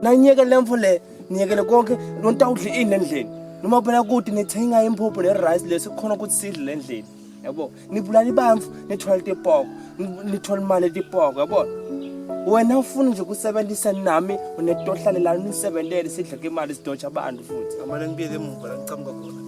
nanyeke lemfo le niyekele konke nontawudla ini endlini noma phela kude nithenga imphuphu nerice leso kukhona ukuthi sidle le ndlini yabo nibulala ibamfu nithwala tipoko nithwala imali etipoko yabo wena ufuna nje ukusebenzisa nami unetohlalelani nisebenzele sidle ke imali sidotsha abantu futhi amane ngibuyele emuva la ngicamuka khona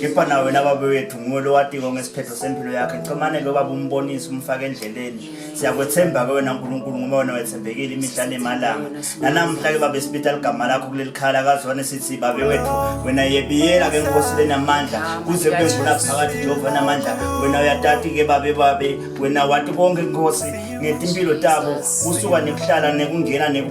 kepha nawe wena baba wethu nguwe lowatiko ngesiphetho sempilo yakhe ncomane lo baba umbonise umfake endleleni siyakwethemba ke wena nkulunkulu ngoba wena wethembekile imihla nemalanga nanamhla ke baba esipita ligama lakho kuleli khala kazwane sithi babe wethu wena yebiyela ke nkosi lenamandla kuze kube ngula phakathi jehova namandla wena uyatati ke babe babe wena wati konke nkosi ngetimpilo tabo kusuka nekuhlala nekungena neku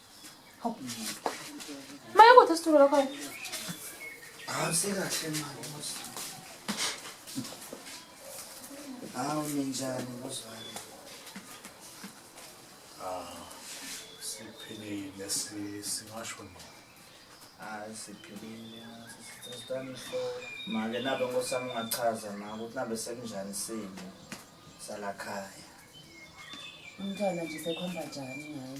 Mayokuthi isitulo lokho. Hawu sekahle manje Musa. Hawu ninjani muzwani? Ah, siphilile si singasho no. Hayi siphilile sisithandwa ihloko. Manje nabe ngosami ungachaza ma ukuthi nabe sekunjani simo salakhaya. Umntwana nje sekhomba njani ngaye?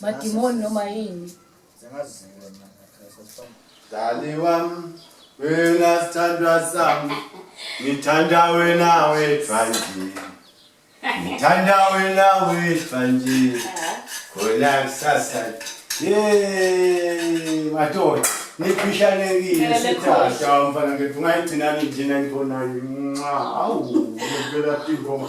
madimoni noma yini dali wam wena sithandwa sam ngithanda wena wethwanje ngithanda wena wethwanje khona kusasa ye madoda nikhishanekile sithatha mfana ngifuna igcinani njena ngikhonayo nxa awu ngempela tingoma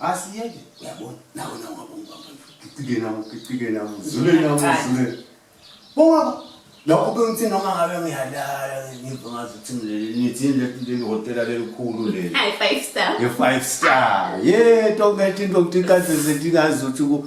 asiyeke uyabona nawe nawe ngabongicike nawe ngicike nawe zule nawe zule bongaba lokho bengithi noma ngabe ngiyalala ngiva ngazi ukuthi ngilele nithi leli hotela lelikhulu leli hayi five star ye five star ye tonke into ukuthi kaze zintingazi ukuthi ku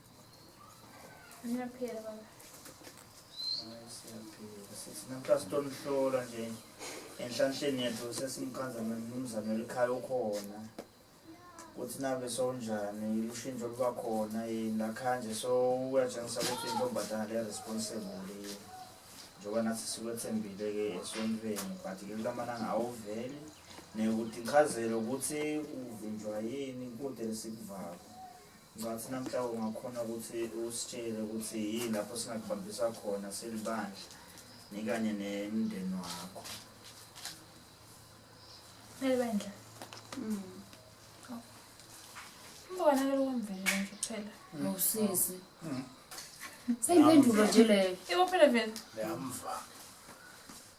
Ngiyaphila baba. Siyaphila sisi namhla sitonihlola nje enhlanhleni yethu sesimchaza nomnumzane elikhaya ukhona ukuthi nabe sonjani ushintsho luba khona yini lakhaya nje so uyatshengisa ukuthi intombazana le responsible yini njengoba nathi sikwethembile-ke esontweni but ke kulamalanga awuveli nekuthi ngichazele ukuthi uvinjwa yini kude lesikuvako Ngathi namhla ungakhona ukuthi usitshele ukuthi yini lapho singakubambisa khona silibandla nikanye nemndeni wakho. Elibandla. Mm. Oh. Mbona ke lokumvele nje kuphela. Ngosisi. Mm. Mm. Seyimpendulo nje leyo. Ibo phela vele. Yamva.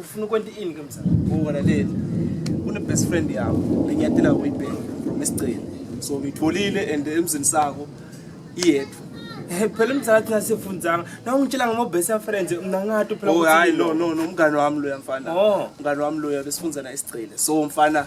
ufuna ukwenta ini ke mzala ungalaleli une best friend yakho lenyatela uyibheka from isigcini so ngitholile and emzini sakho iyedwa eh, phela umzala thina sifundzanga na ungitshela ngama best friends mina ngathi phela oh hayi no no no umngane wami loya mfana oh. umngane wami loya besifundzana isigcile so mfana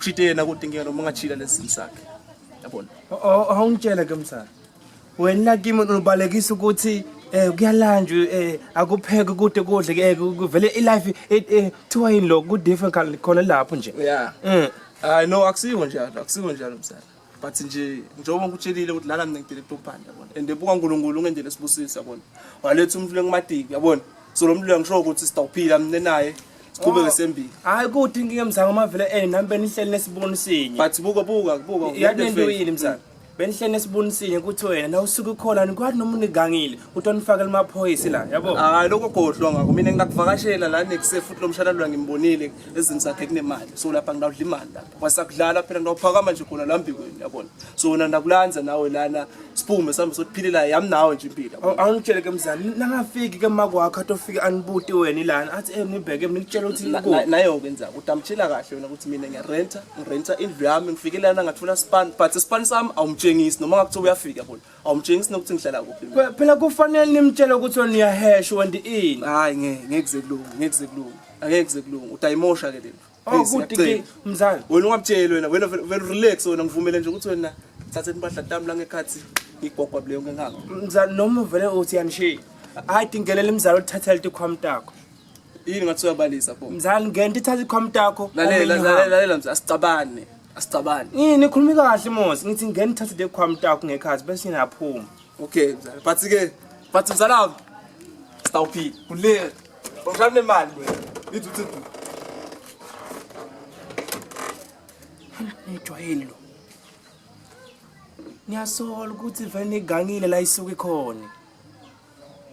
Chite yena kodwa inkinga noma ungachila lesimo sakhe. Yabona? Awungitshele ke msana. Wena kimi ubalekisa ukuthi eh kuyalanjwa eh akupheke kude kudle ke eh, kuvele ilife eh, eh, kuthiwa yini lokho ku different khona lapho nje. Yeah. Mm. Hayi no akusiwo njalo, akusiwo njalo msana. but nje njengoba ngikutshelile ukuthi lana mina ngidele kutopanda yabona and ebuka uNkulunkulu ungendele sibusisi yabona waletha umfule kumatiki yabona so lo mlilo ngisho ukuthi sitawuphila mina naye siqhube oh. ngesembili hayi kuthi inkinga emzango amavele eh nami benihleli nesiboni sinye but buka buka buka yadento yini mzango benihleli nesibuni sinye ukuthi wena na usuke ukhona nikwathi noma unigangile ukuthi onifakele amaphoyisi la yabo hayi lokho gohlwa ngako mina ngingakuvakashela la nekusefuthu lomshana lwa ngimbonile ezini zakhe kunemali so lapha ngidawudla imali la wasakudlala phela nophakama nje khona la mbikweni yabona so wena ndakulanza nawe lana siphume sambe sothiphilelayo yami nawe nje impilo Awu- awungitshele ke mzali nangafiki ke makwakho atofike anibuti wena ilana athi eh nibheke mina ngitshela ukuthi Na- na- ikuphi nayo ke nzaba ukuthi amtshela kahle wena ukuthi mina ngiyarenta ngirenta indlu yami ngifike lana ngathola span but span sami awumtshengisi noma ngakuthiwa uyafika yabona awumtshengisi nokuthi ngihlala kuphi mina. Kwe- phela kufanele nimtshele ukuthi wena uyahesha wendi ini hayi ngeke ngeke kuze kulunge ngeke kuze kulunge angeke kuze kulunge utayimosha ke lento Oh good ke mzali. Wena ungamtsheli wena wena vele relax wena ngivumele nje ukuthi wena thatha impahla tami la ngekhathi ngigwagwa bule yonke ngakho. Mzali noma vele uthi yanishiya. Hayi dingelela imzali othathela ikhwam takho. Yini ngathi uyabalisa pho. Mzali ngento ithatha ikhwam takho. Lalela lalela lalela mzali asicabane. Asicabane. Yini khulumi kahle mos ngithi ngena ithathe ikhwam takho ngekhathi bese ngiyaphuma. Okay, mzala. But ke but mzala wami sitawuphila. Kulile. Uhlala nemali wena. Ithi uthi Ngijwayele lo. Ngiyasola ukuthi vele igangile la isuke khona.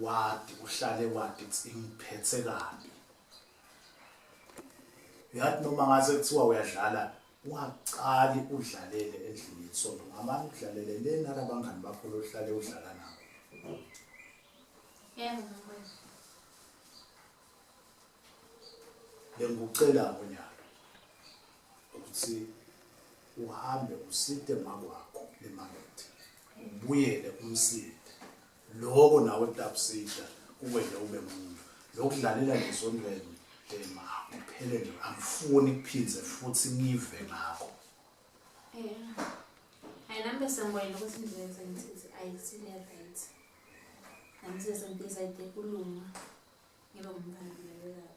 wadi uhlale wadi ingiphethe kabi yathi noma ngase kuthiwa uyadlala waqali udlalele endlini yesonto ngamane udlalele le nalabangani bakho lohlale udlala nabo yebo mfowethu bengikucela ngonyalo ukuthi uhambe uside makwakho emakethe ubuyele umside Loko nawe tapsita kuwena ube muntu. Lokudlalela ngesondweni dema akuphelele angifuni kuphindze futhi ngive ngakho. Yeah. Hayi nami besengiboyile ukuthi indlela engizenzile ayisile right. Nami sesengibizayide kulunga. Ngibe ngumphambili lapho.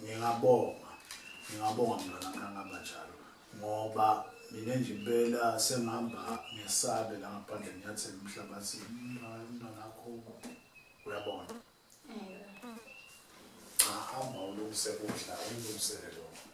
Ngingabonga, ngingabonga mntwana kangaba njalo ngoba mina nje impela sengihamba ngesabe la ngaphandle ngiyathela umhlabathi mntwana akho uyabona cha hamba ulungise kudla ulungisele lokho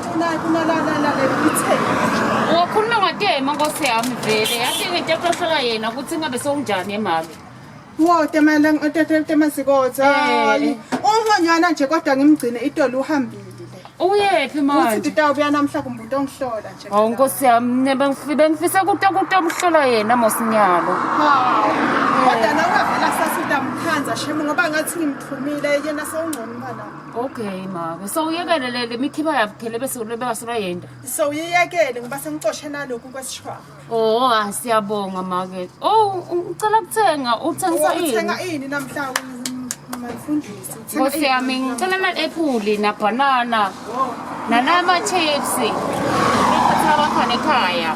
Wakhuluma ngatema nkosi yami vele yathi ngento eprohlola yena ukuthi ngabe sewunjani emami Wo tema lang otete tema sikotha. Hayi. Ungonyana nje kodwa ngimgcine itolo uhambile. Uyephi manje? Uthi tawubuya namhla kumuntu ongihlola nje. Hawu nkosi yami nebe ngifike ngifise kuto kuto umhlola yena mosinyalo. Hawu. Kodwa nawe vela sasida mkhanza shemu ngoba ngathi ngimthumile yena sewungcono imali. Okay mama, so uyekele le le mikhiba yabukhele bese ulobeka sona yenda. So uyiyekele ngoba sengicoshe naloku kwesishwa. Oh, ah, siyabonga make. Oh, ngicela kuthenga, uthengisa yini? Uthenga ini namhla mfundisi? Nkosi yami ngicela na apple na banana. Nanama chips. Ngiphatha abakhona ekhaya.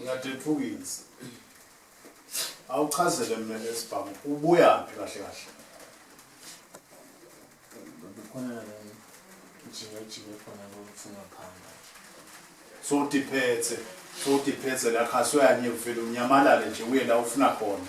Ngiyadethukisa. Awuchazele mina lesibhamu ubuya phi kahle kahle? Bekhona la ngijike jike khona lokufuna phamba. So diphethe, so diphethe la khaswe yanye ufela unyamalale nje uye la ufuna khona.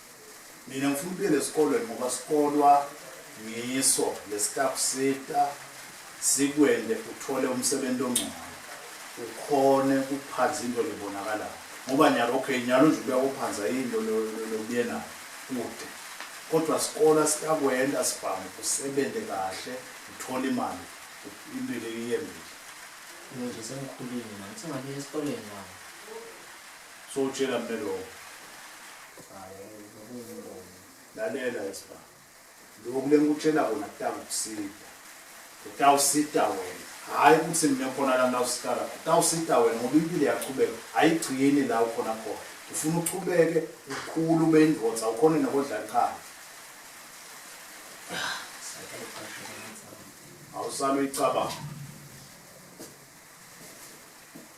Mina ngifuna ubuyele esikolweni ngoba sikolwa ngiso lesikakusita sikwende uthole umsebenzi ongcono ukhone kuphanza into lebonakalayo ngoba nyalo okay nyalo nje ubuya kuphanza into lobuye nayo kude kodwa sikolo sikakwenda sibhamu usebenze kahle uthole imali impilo iyembile ngizoze sengikhulile manje sengabuya esikoleni manje So utshela mina lokho. Lalela isba. Lokhu lengikutshela kona kutakusida. Kutawusida wena. Hayi ukuthi mina khona la nawusikala. Kutawusida wena ngoba impilo yaqhubeka. Ayigcini la ukhona khona. Ufuna uqhubeke ukhulu ube indvodza ukhona nokodla qhala. Awusalo icabanga.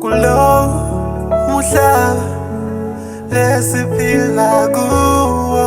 kulo muhlaba lesiphila kuwo